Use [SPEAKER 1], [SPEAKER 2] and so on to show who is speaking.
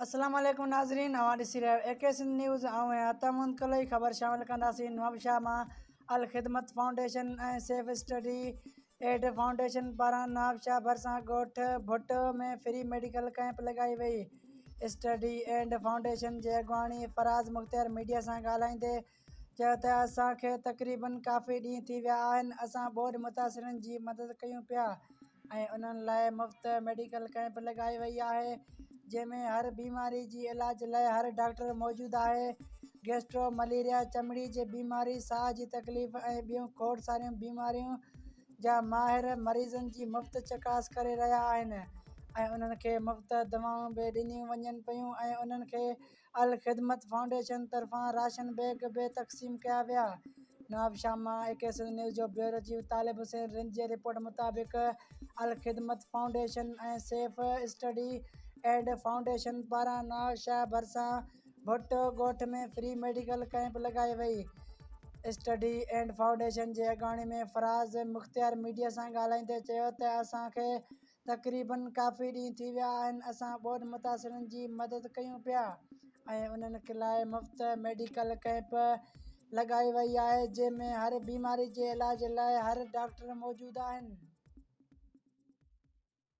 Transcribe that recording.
[SPEAKER 1] السلام عليڪم ناظرين اوهان ڏسي رهيا آهيو اي ڪي سنڌ نيوز آئون آهيان عطا محمد ڪلوئي خبر شامل ڪنداسين نوابشاهه مان الخدمت فائونڊيشن ۽ سيف اسٽڊي ايڊ فائونڊيشن پاران نوابشاهه ڀرسان ڳوٺ ڀٽ ۾ فري ميڊيڪل ڪئمپ لڳائي وئي اسٽڊي ايڊ فائونڊيشن جي اڳواڻي فراز مختيار ميڊيا سان ڳالهائيندي چيو ته اسان کي تقريباً ڪافي ڏينهن ٿي ويا آهن اسان ٻوڏ متاثرن جي مدد ڪيون پيا ۽ انهن لاء مفت ميڊيڪل ڪئمپ لڳائي وئي آهي جنهن ۾ هر بيماري جي علاج لاء هر ڊاڪٽر موجود آهي گيسٽرو مليريا چمڙي جي بيماري ساهه جي تڪليف ۽ ٻيون کوڙ ساريون بيماريون جا ماهر مريضن جي مفت چڪاس ڪري رهيا آهن ۽ انهن کي مفت دوائون به ڏنيون وڃن پيون ۽ انهن کي الخدمت فائونڊيشن طرفان راشن بيگ به تقسيم ڪيا ويا. نواب شاهه مان اي ڪي سنڌ نيوز جو بيورو چيف طالب حسين رند جي رپورٽ مطابق الخدمت فائونڊيشن ۽ سيف اسٽڊي ايڊ فائونڊيشن پاران نواب شاهه ڀرسان ڀٽو ڳوٺ ۾ فري ميڊيڪل ڪئمپ لڳائي وئي اسٽڊي ايڊ فائونڊيشن جي اڳواڻي ۾ فراز مختيار ميڊيا سان ڳالهائيندي چيو ته اسان کي تقريباً ڪافي ڏينهن ٿي ويا آهن اسان ٻوڏ متاثرن جي مدد ڪيون پيا ۽ انهن لاء مفت ميڊيڪل ڪئمپ لڳائي وئي آهي جنهن ۾ هر بيماري جي علاج لاء هر ڊاڪٽر موجود آهن